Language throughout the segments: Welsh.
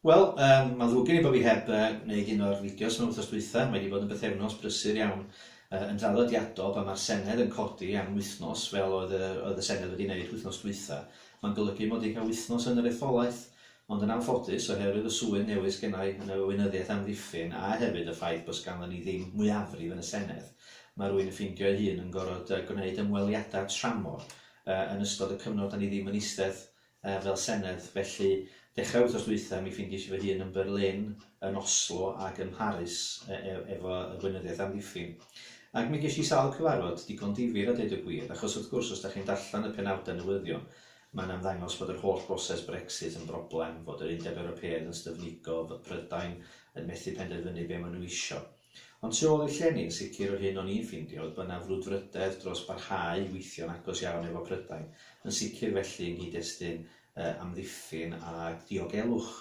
Wel, um, mae'n ddrwg gen i bod fi heb uh, wneud un o'r fideos mewn wythnos dwytha. Mae wedi bod yn bythefnos brysur iawn uh, yn draddodiadol pan mae'r Senedd yn codi am wythnos fel oedd y, oedd y Senedd wedi wneud wythnos dwytha. Mae'n golygu mod i'n cael wythnos yn yr etholaeth, ond yn anffodus, oherwydd y swydd newydd sgennau yn y Weinyddiaeth Amddiffyn a hefyd y ffaith bod sganddon ni ddim mwyafrif yn y Senedd, mae rwy'n yn ffeindio ei hun yn gorfod uh, gwneud ymweliadau tramor uh, yn ystod y cyfnod da ni ddim yn eistedd fel Senedd, felly dechrau'r wythnos dwytha mi ffindies i fy hun yn Berlin, yn Oslo ac ym Mharis efo y Gweinyddiaeth Amddiffyn. Ac mi gesh i sawl cyfarfod, digon difyr a deud y gwir, achos wrth gwrs os dach chi'n darllen y penawdau newyddion mae'n ymddangos bod yr holl broses Brexit yn broblem, fod yr Undeb Ewropeaidd yn styfnigo, fod Prydain yn methu penderfynu be ma nhw isio. Ond tu ôl i'r llenni yn sicr yr hyn o'n i'n ffindio oedd bod 'na frwdfrydedd dros barhau i weithio'n agos iawn efo Prydain, yn sicr felly yng nghyd-destun yy amddiffyn a diogelwch.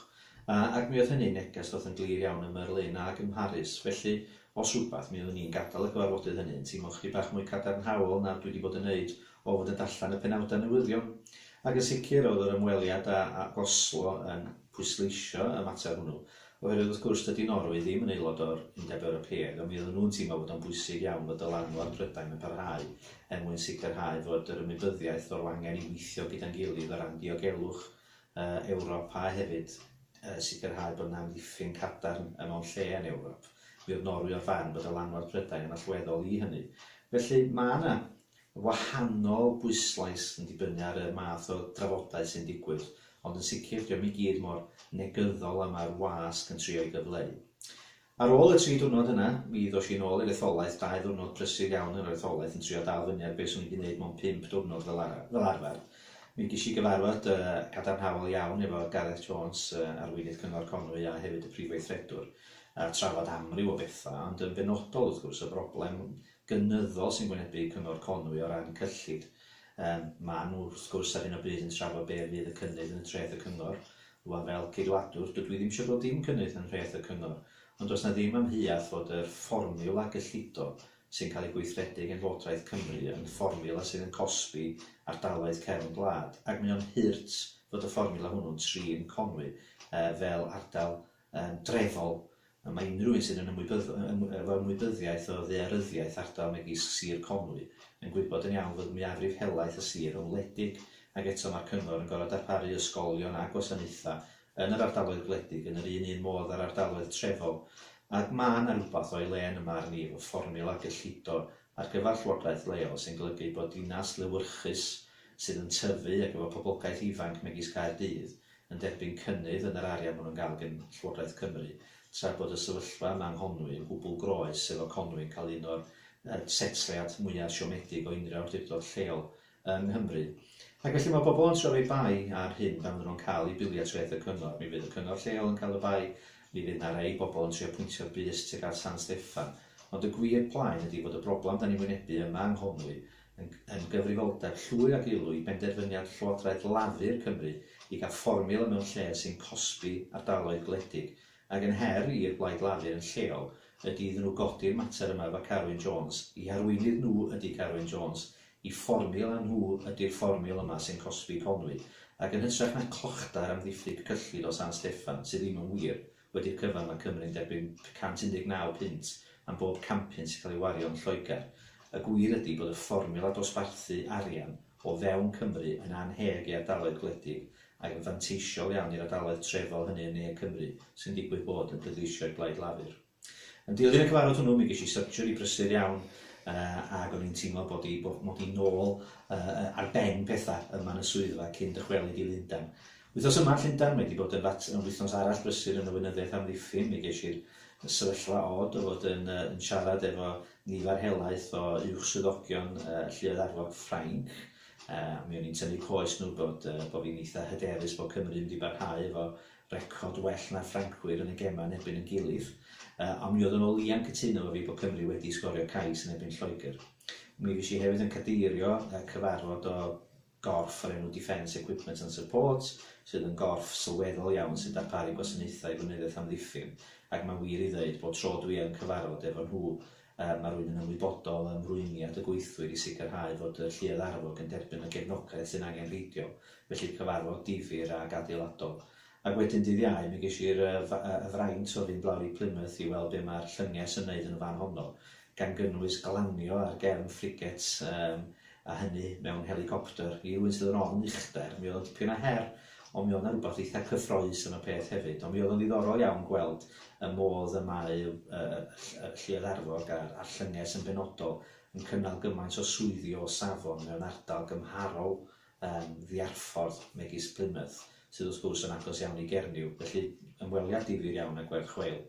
A ac mi oedd hynny'n neges ddoth yn glir iawn ym Merlin ag ym Mharis, felly os rhywbeth mi oeddwn i'n gadal y cyfarfodydd hynny yn teimlo chydig bach mwy cadarnhaol na dwi 'di bod yn neud o fod yn darllen y penawdau newyddion. Ac yn sicr oedd yr ymweliad â â Oslo yn pwysleisio y mater hwnnw, Oherwydd wrth gwrs, dydy Norwy ddim yn aelod o'r Undeb Ewropeaidd, ond mi oedden nhw'n teimlo fod o'n bwysig iawn fod dylanwad Prydain yn parhau er mwyn sicrhau fod yr ymwybyddiaeth fod angen i weithio gyda'n gilydd o ran diogelwch Ewrop a hefyd sicrhau bod 'na amddiffyn cadarn mewn lle yn Ewrop. Mi oedd Norwy o'r farn bod dylanwad Prydain yn allweddol i hynny. Felly, mae 'na wahanol bwyslais yn dibynnu ar y math o drafodau sy'n digwydd, ond yn sicr, dio'm i gyd mor negyddol â mae'r wasg yn trio'i gyfleu. Ar ôl y tri diwrnod yna, mi ddosh i nôl i'r etholaeth, dau ddiwrnod prysur iawn yn yr etholaeth yn trio dal fyny ar be' swn i 'di neud mewn pump diwrnod fel ara- fel arfer. Mi gesh i gyfarfod yy gadarnhaol iawn efo Gareth Jones, yy Arweinydd Cyngor Conwy a hefyd y Prif Weithredwr, a trafod amryw o betha, ond yn benodol, wrth gwrs, y broblem gynyddol sy'n wynebu Cyngor Conwy o ran cyllid. Yym, maen nhw, wrth gwrs, ar hyn o bryd yn trafod be fydd y cynnydd yn y treth y Cyngor. Rŵan, fel Ceidwadwr, dydw i ddim eisiau gweld dim cynnydd yn nhreth y Cyngor, ond does 'na ddim amheuaeth fod yr fformiwla gyllido sy'n cael ei gweithredu gan Lywodraeth Cymru yn fformiwla sydd yn cosbi ardaloedd cefn gwlad, ac mae o'n hurt fod y fformiwla hwnnw'n trin Conwy yy fel ardal yn dreddol, y mae unrhyw un sydd yn ymwybyddo efo ymwybyddiaeth o ddaearyddiaeth ardal megis Sir Conwy yn gwybod yn iawn fod mwyafrif helaeth y sir yn wledig ac eto mae'r Cyngor yn gorfod darparu ysgolion a gwasanaethau yn yr ardaloedd gwledig yn yr un un modd â'r ardaloedd trefol a mae yna rywbeth o'i le yn y marn i efo fformiwla gyllido ar gyfer llywodraeth leol sy'n golygu bod dinas lewyrchus sydd yn tyfu ac efo poblogaeth ifanc megis Caerdydd yn derbyn cynnydd yn yr arian maen nhw'n gael gan Llywodraeth Cymru, tra bod y sefyllfa yma yng Nghonwy yn gwbl groes efo Conwy yn cael un o'r setliad mwyaf siomedig o unrhyw awdurdod lleol yng Nghymru. Ac felly mae pobl yn trio rhoi bai ar hyn pan fydden nhw'n cael eu bilio treth y cyngor. Mi fydd y cyngor lleol yn cael y bai, mi fydd 'na rei bobl yn trio pwyntio'r bys tuag at San Steffan. Ond y gwir plaen ydi fod y broblam 'dan ni'n wynebu yma yng Nghonwy yn gyfrifoldeb llwyr ag elw i benderfyniad Llywodraeth Lafur Cymru i gael fformiwla mewn lle sy'n cosbi ardaloedd gwledig, ac yn her i'r Blaid Lafur yn lleol y du iddyn nhw godi'r mater yma efo Carwyn Jones, i harweinydd nhw ydi Carwyn Jones, i fformiwla nhw ydi'r fformiwla yma sy'n cosbi Conwy, ac yn hytrach na clochdair am ddiffyg cyllid o San Steffan, sydd ddim yn wir, Wedi'r cyfan mae Cymru'n derbyn 119 punt am bob campyn sy'n cael ei wario yn Lloegr. Y gwir ydi bod y fformiwla dosbarthu arian o fewn Cymru yn annheg i ardaloedd gwledig ac yn fanteisiol iawn i'r ardaloedd trefol hynny yn ne Cymru sy'n digwydd bod yn pleidleisio i Blaid Lafur. Yn dilyn y cyfarfod hwnnw mi ges i surgery brysur iawn ac o'n i'n teimlo bod i, mod i nôl ar ben pethau yma yn y swyddfa cyn dychwelyd i Lundain. Wythnos yma yn Llundain mae 'di bod yn fat- yn wythnos arall brysur yn y weinyddiaeth amddiffyn, mi gesh i'r y sefyllfa od o fod yn yy yn siarad efo nifer helaeth o uwch swyddogion yy Lluoedd Arfog Ffrainc, yy a mi o'n i'n tynnu coes nhw bod yy bo' fi'n eitha hyderus bo' Cymru mynd i barhau efo record well na'r Ffrancwyr yn y gema yn erbyn yn gilydd, yy on' mi oedden nhw o leia'n cytuno efo fi bo' Cymru wedi sgorio cais yn erbyn Lloegr. Mi fuesh i hefyd yn cadeirio yy cyfarfod o gorff o'r enw Defence Equipment and Support, sydd yn gorff sylweddol iawn sy'n darparu gwasanaethau gweinyddiaeth amddiffyn, ac mae'n wir i ddeud, bob tro dwi yn cyfarfod efo nhw, yy, ma' rwy'n yn ymwybodol o ymrwymiad y gweithwyr i sicrhau fod y Lluoedd Arfog yn derbyn y gefnogaeth sy'n angenrheidiol, felly cyfarfod difyr ac adeiladol. Ac wedyn dydd Iau mi gesh i'r y fraint o fynd lawr i Plymouth i weld be mae'r llynges yn neud yn y fan honno, gan gynnwys glanio ar gefn frigates yym a hynny mewn helicopter. I rywun sydd yn ofn uchder mi oedd o'n dipyn o her, ond mi oedd 'na rwbath eitha cyffroes yn y peth hefyd. Ond mi oedd o'n ddiddorol iawn gweld y modd y mae y y y y Lluoedd Arfog a'r a'r llynges yn benodol yn cynnal gymaint o swyddi o safon mewn ardal gymharol yn Ddiarffordd megis Plymouth, sydd wrth gwrs yn agos iawn i Gernyw, felly ymweliad difyr iawn â Gwerth Chweil.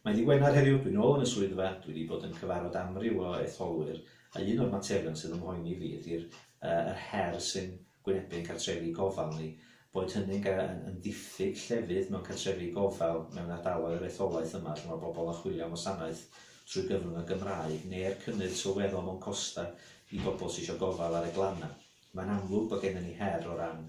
Mae'n ddydd Gwener heddiw, dwi'n ôl yn y swyddfa, dwi wedi bod yn cyfarfod amryw o etholwyr, a un o'r materion sydd ym mhoeni fi ydy'r yr her sy'n gwynebu ein cartrefi gofal ni, boed hynny'n yn ddiffyg llefydd mewn cartrefi gofal mewn ardaloedd yr etholaeth yma lle mae pobl yn chwilio am wasanaeth trwy gyfrwng y Gymraeg, neu'r cynnydd sylweddol mewn costau i bobl sy eisiau gofal ar y glannau. Mae'n amlwg bod gennym ni her o ran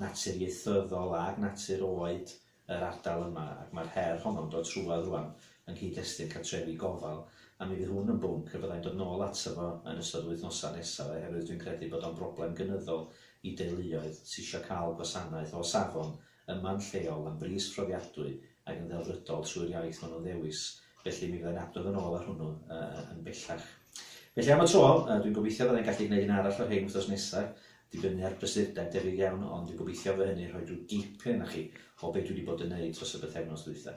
natur ieithyddol ac natur oed yr ardal yma ac mae'r her honno'n dod trwodd rŵan yng nghyd-destun cartrefi gofal a mi fydd hwn yn bwnc y byddai'n dod nôl ato fo yn ystod yr wythnosau nesaf oherwydd dwi'n credu bod o'n broblem gynyddol i deuluoedd sy isio cael gwasanaeth o safon yma'n lleol am bris profiadwy ac yn ddelfrydol trwy'r iaith maen nhw'n ddewis, felly mi fyddai'n adrodd yn ôl ar hwnnw yn bellach. Felly am y tro, dwi'n gobeithio byddai'n gallu gwneud un arall o hyn wythnos nesaf, dibynnu ar brysurdeb debyg iawn, ond dwi'n gobeithio fy hynny rhoi rhyw gip arna chi o beth dwi wedi bod yn neud dros y bythefnos ddwytha.